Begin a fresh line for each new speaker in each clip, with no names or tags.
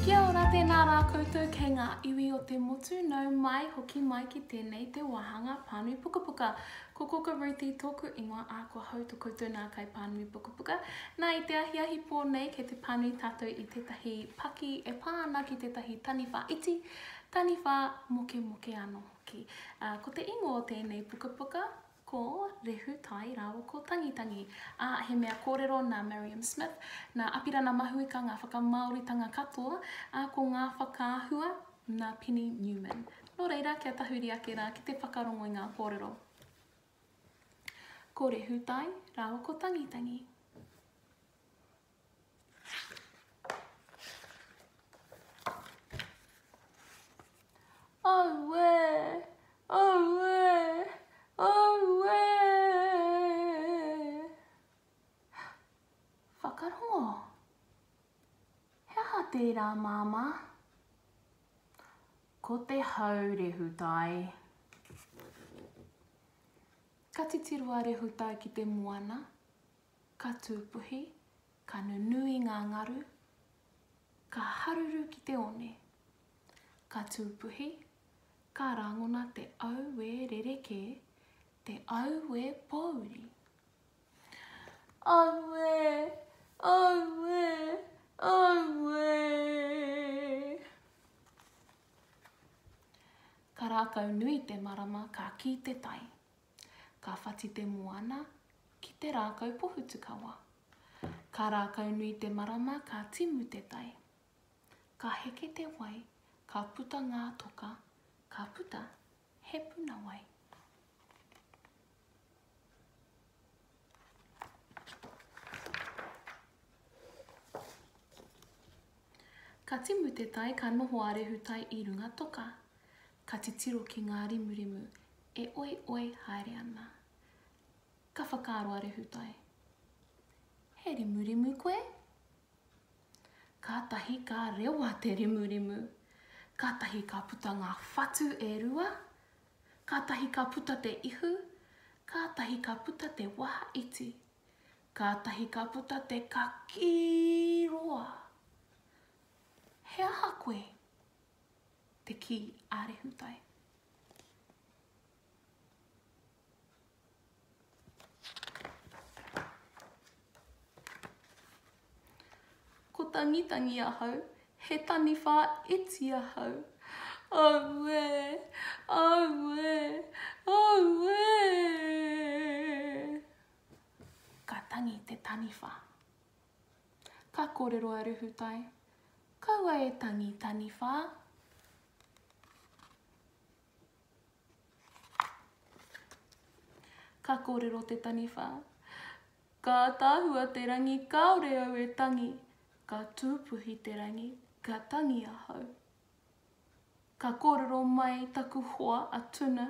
Kia ora, tēnā rā koutou kei ngā iwi o te motu, nau mai, hoki mai ki tēnei te wāhanga Pānui Pukapuka. Ko Koka Ruti tōku ingoa, ā, kua hautū koutou nā kai Pānui Pukapuka. Nā, i te ahiahi pō nei, kei te pānui tātou i tētahi paki e pā ana ki tētahi taniwha iti, Taniwha mokemoke anō hoki. Ā, ko te ingoa o tēnei pukapuka, ko Rehu Tai rāua ko Tangitangi. Ā, he mea kōrero nā Mariam Smith, nā Apirana Mahuika ngā whakamāoritanga katoa, ā, ko ngā whakaahua nā Penny Newman. Nō reira, kia tahuri ake rā ki te whakarongo i ngā kōrero. Ko Rehu Tai rāua ko Tangitangi. Auē! Auē! Auē! Whakarongo. He aha tērā, Māmā? Ko te hau rehutai. Ka titiro a Rehutai ki te moana. ka tūpuhi, ka nunui ngā ngaru, ka haruru ki te one, ka tūpuhi, ka rangona te auē rerekē, te auē pōuri. Auē! Auē! Auē! Ka rākau nui te marama, ka kī te tai. Ka whati te moana ki te rākau pohutukawa. Ka rākau nui te marama ka timu te tai. Ka heke te wai, ka puta ngā toka, ka puta he puna wai. Ka timu te tai ka noho a Rehutai i runga toka. Ka titiro ki ngā rimurimu e oioi haere ana. Ka whakaaro a Rehutai, He rimurimu koe? Kātahi ka rewa te rimurimu. Kātahi ka puta ngā whatu e rua. Kātahi ka puta te ihu. Kātahi ka puta te waha iti. Kātahi ka puta te kakī roa. He aha koe? te kī a Rehutai. Ko tangitangi ahau, he taniwha iti ahau. Aue, aue, aue. Ka tangi te taniwha. Ka kōrero a Ruhutai, Kaua e tangi taniwha. Ka kōrero te taniwha, Ka ātaahua te rangi kāore au e tangi, ka tūpuhi te rangi, ka tangi ahau. Ka kōrero mai taku hoa a Tuna,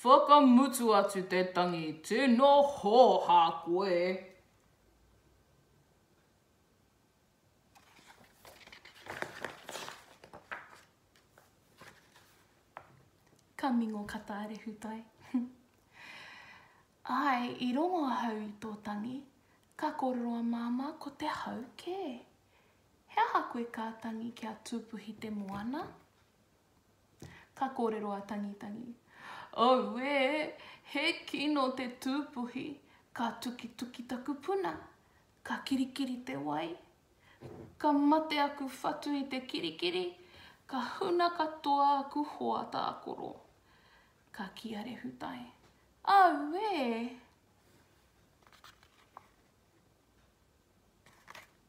Whakamutu atu te tangi, tino hōhā koe. Ka mingo ka taare hutai. Ae, i rongo ahau i tō tangi, ka kōrero a māmā ko te hau kē. He aha koe ka tangi kia tūpuhi te moana? Ka kōrero a Tangitangi, Auē! He kino te tūpuhi, ka tukituki taku puna, ka kirikiri te wai, ka mate aku whatu i te kirikiri, ka huna katoa aku hoa tākoro. Ka kī a Rehutai, Auē!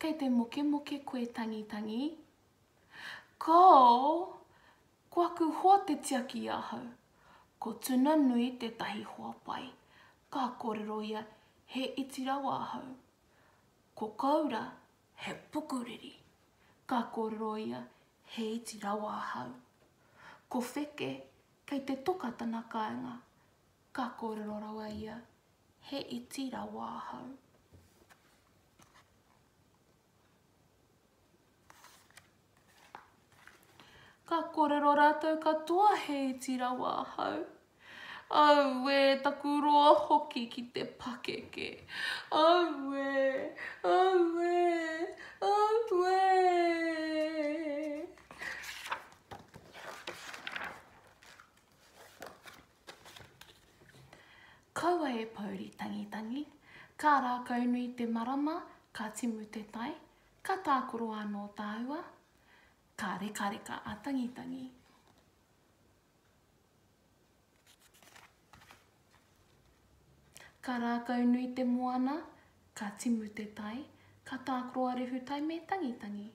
Kei te mokemoke koe tangitangi? Koo! Ko aku hoa te tiaki i ahau. Ko Tuna Nui tētahi hoa pai. Ka kōrero ia, He iti rawa ahau. Ko Koura, he pukuriri. Ka kōrero ia, He iti rawa ahau. Ko Wheke, kei te toka tana kāinga. Ka kōrero rawa ia, He iti rawa ahau. Ka kōrero rātou katoa he iti rawa ahau. Auē, taku roa hoki ki te pakeke. Auē, auē, auē. Kaua e pouri tangitangi, ka rākaunui te marama, ka timu te tai, ka tākoro anō tāua, ka rekareka a Tangitangi. Ka rākaunui te moana, Ka timu te tai, ka tākaro a Rehutai me Tangitangi.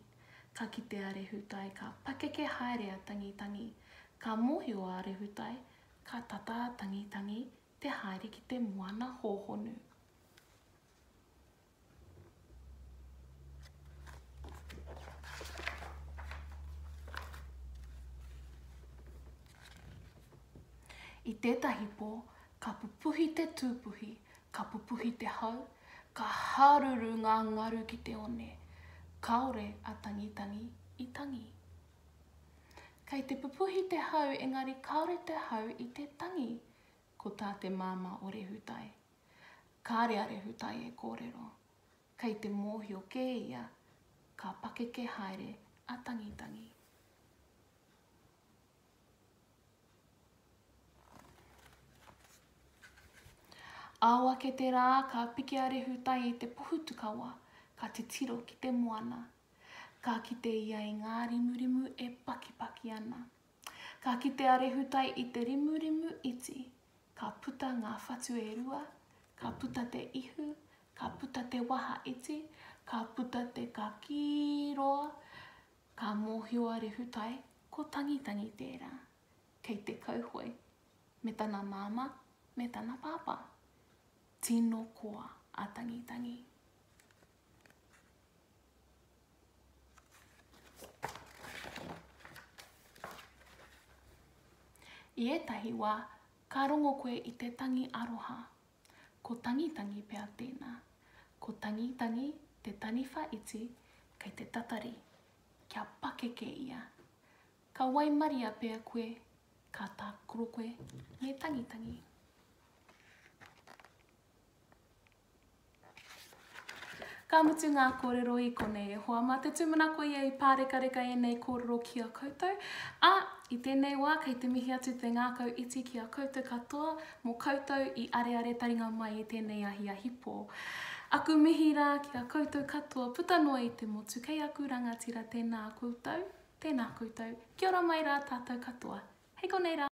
Ka kite a Rehutai ka pakeke haere a Tangitangi. Ka mōhio a Rehutai, ka tata a Tangitangi te haere ki te moana hōhonu. I tētahi pō, ka pupuhi te tūpuhi, Ka pupuhi te hau, ka haruru ngā ngaru ki te one, kāore a Tangitangi i tangi. Kei te pupuhi te hau engari kāore te hau i te tangi, ko tā te māmā o Rehutai. Kāre a Rehutai e kōrero. Kei te mōhio kē ia, ka pakeke haere a Tangitangi. Ao ake te rā, ka piki a Rehutai i te pohutukawa, ka titiro ki te moana. Ka kite ia i ngā rimurimu e pakipaki ana. Ka kite a Rehutai i te rimurimu iti, ka puta ngā whatu e rua, ka puta te ihu, ka puta te waha iti, ka puta te kakī roa, Ka mōhio a Rehutai ko Tangitangi tērā, kei te kauhoe me tana māmā me tana pāpā. Tino koa a Tangitangi. I ētahi wā, ka rongo koe i te tangi aroha Ko Tangitangi pea tēnā. Ko Tangitangi te taniwha iti kei te tatari, kia pakeke ia. Ka waimaria pea koe, ka tākaro koe me Tangitangi. Ka mutu ngā kōrero i konei e hoa mā te tūmana ko ia i pārekareka ēnei kōrero ki a koutou, ā, i tēnei wā kei te mihi atu te ngākau iti ki a koutou katoa mō koutou i areare taringa mai i tēnei ahiahi pō. Aku mihi rā ki a koutou katoa puta noa i te motu kei aku rangatira tēnā koutou, tēnā koutou, kia ora mai rā tātou katoa. Hei konei rā.